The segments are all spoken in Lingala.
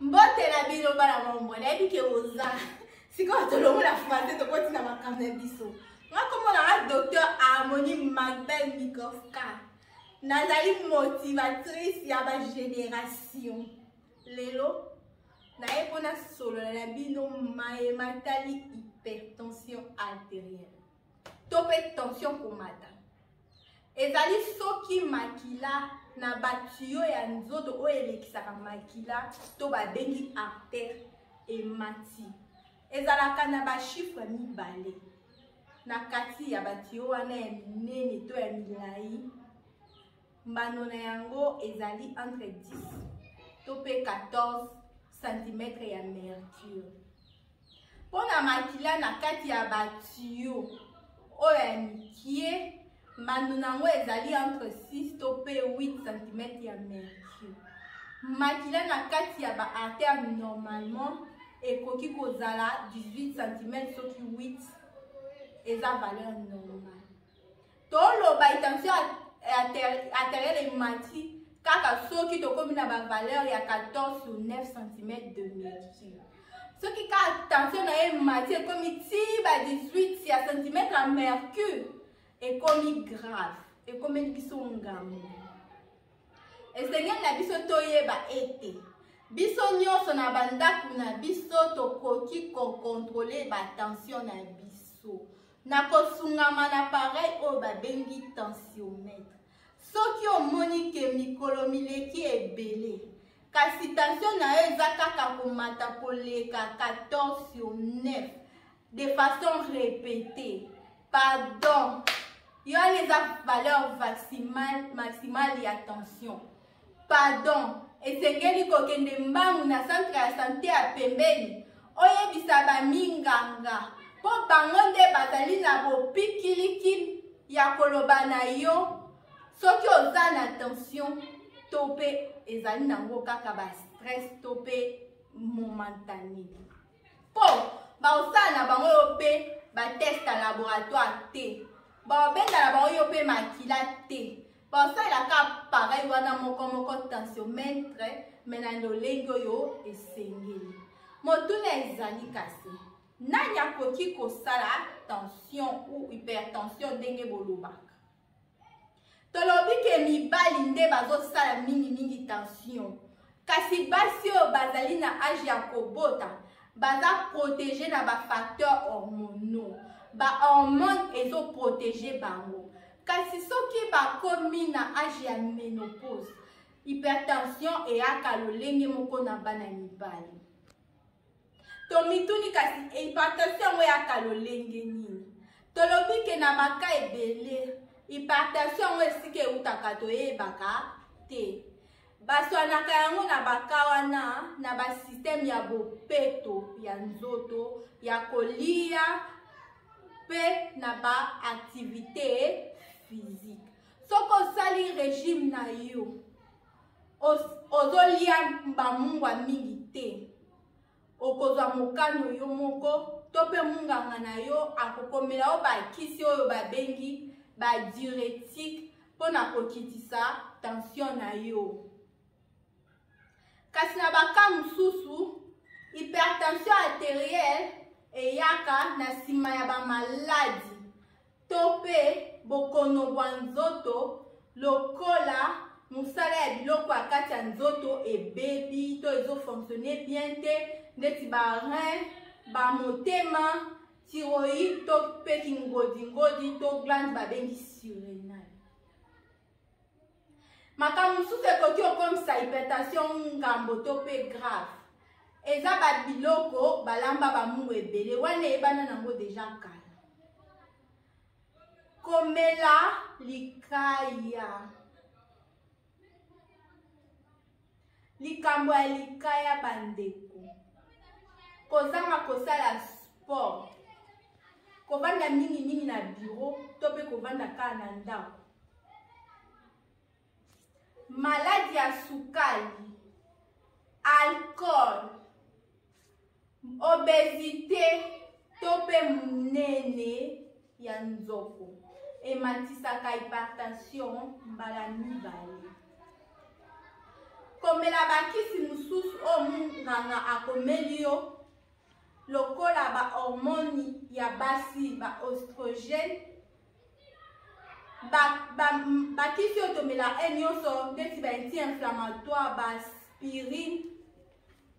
mbote na bino bana mombo nayebi ke oza sikoyo tolongola français tokoti na makambo na biso nakomona nga docteur harmonie magdal mikovka nazali motivatrice ya bagénération lelo naye mpo nasolola na bino maye matali hypertension artérielle to mpe tension komata ezali soki makila na batiyo ya nzoto oyo elekisaka makila to babengi artere emati ezalaka na bashifre mibale na kati ya batiyo wana ya minene to ya milai mbano na yango ezali entre 10 to mpe 14 cm ya mercure mpo na makila na kati ya batiyo oyo ya mikie mbando na yango ezali entre 6 to mpe 8 cm ya mercure makila na kati ya baartère normalement ekoki kozala 18 cm soki 8 eza valeur normale toloba étention arteriel emati kaka soki tokomi na bavaleur ya 14 sur 9 cm de mercure soki kaka tension na ye emati ekomi ti ba 18 ya centimetre ya mercure ekomi grave ekomeli biso ngambo esengeli na biso toyeba ete biso nyonso na bandako na biso tokoki kokontrole batension na biso na kosungama na pareil oyo babengi tensiomètre soki omoni ke mikolo mileki ebele kasi tensio na yo eza kaka komata koleka 14 sur 9 de façon répétée pardon yo wana eza valeur maximale ya tension Pardon, esengeli kokende mbangu na centre ya sante ya pembeni oyebisa baminganga mpo bango nde bazali na bopikiliki ya koloba na yo soki oza na tension to mpe ezali nango kaka bastress to mpe momentani mpo bakosala na bango yo mpe bateste ya laboratoire te bakobenda na bango yo mpe makila te basalelaka pareil wana moko moko tensiomètre me na lolenge oyo esengeli motuna ezali kasi nani akoki kosala tension ou hypertension ndenge bolobaka tolobi ke mibali nde bazosala mingimingi tension Kasi basi oyo bazali na age ya kobota baza protege na bafacteur hormonaux bahormone ezoprotege bango kasi soki bakomi na age ya menopause hypertension eyaka lolenge moko na bana mibali tomituni kasi hypertension yango eyaka lolenge nini tolobi ke na baka ebele hypertension yango esika eutaka toyebaka te baswanaka yango na baka wana na basysteme ya bopeto ya nzoto ya kolia mpe na baaktivite physique soki osali regime na yo ozolia bamungwa mingi te okozwa mokano yo moko to mpe munganga na yo akokomela yo bakisi oyo babengi badiuretique mpo na kokitisa tansio na yo kasi na baka mosusu hypertension arterielle eyaka na nsima ya bamaladi to mpe bokono bwa nzoto lokola mosala ya biloko ya kati ya nzoto ebebi to ezofonctionne bien te ndeti barin bamotema tiroïde to mpe kingodingodi to glande babengi surene makambo mosusu ekoki okomisa hypertension ngambo to mpe grave eza babiloko balamba bamungu ebele wana eyebana nango deja kala komela likaya likambo ya likaya bandeko kozanga kosala sport kovanda mingimingi na biro to mpe kovanda kaka na ndako maladi ya sukali alcool obesite to mpe monene ya nzoko ematisaka hypertension mbala mibale komela bakisi mosusu oyo monganga akomeli yo lokola bahormone ya basi baostrogene bakisi oyo tomela e nyonso ndeti baanti inflammatoire baaspirine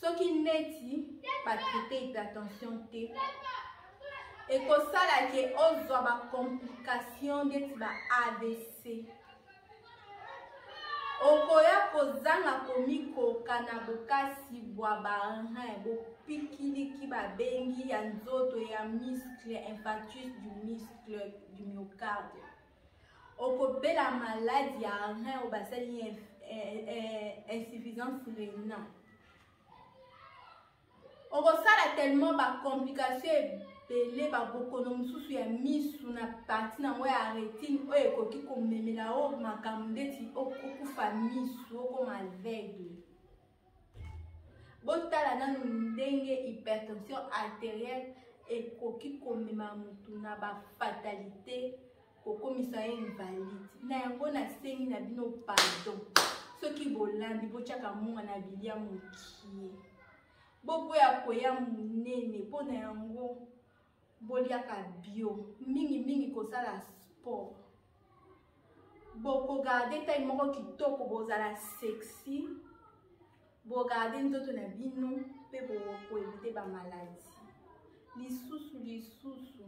soki neti batraite hypertension te ekosala ke ozwa bacomplication ndeti ba avc okoya kozanga komikoka na bokasi bwa barin bopikiliki babengi ya nzoto ya muscle infarctus du muscle du myocarde okobela maladi ya rein oyo basali eh, eh, insuffisance reina okosala tellement bacomplication ebele babokono mosusu ya misu na parti nango ya retine oyo ekoki komemela o makambo ndeti okufa misu okoma aveugle botala nanu ndenge hypertension arterielle ekoki komema motu na bafatalite kokomisa ye invalide na yango nasengi na bino pardon soki bolambi botyaka monga na bilia mokie boboya koya monene mpo na yango boliaka bio mingi mingi kosala sport bokogarde tai moko kitoko bozala sexy bogarde nzoto na bino mpe bokoevite bamaladi lisusu lisusu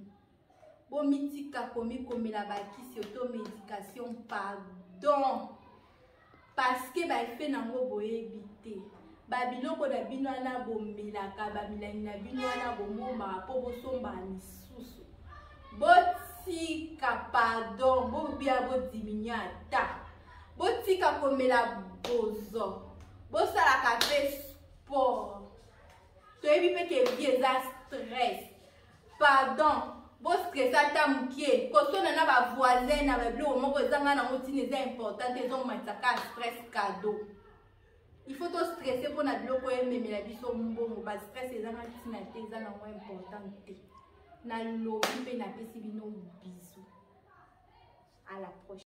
bomitika komikomela bakisi oto medication pardon parceke baefe nango boyebi te babiloko na bino wana bomelaka bamilangi na bino wana bomombaka mpo bosombaka misusu botika pardon bobia bodiminue ata botika komela bozo bosalaka mpe sport toyebi mpe ke vie eza stress pardon bostresa ata moke kosona na bavoisin na babiloko moko ezanga nango ntina eza important te ezomatisa ka stress cadeau il faut tostresse mpo na biloko ememela biso mbongo bastress ezanga ntina te eza nango important te nalobi mpe napesi bino bisu à la prochaine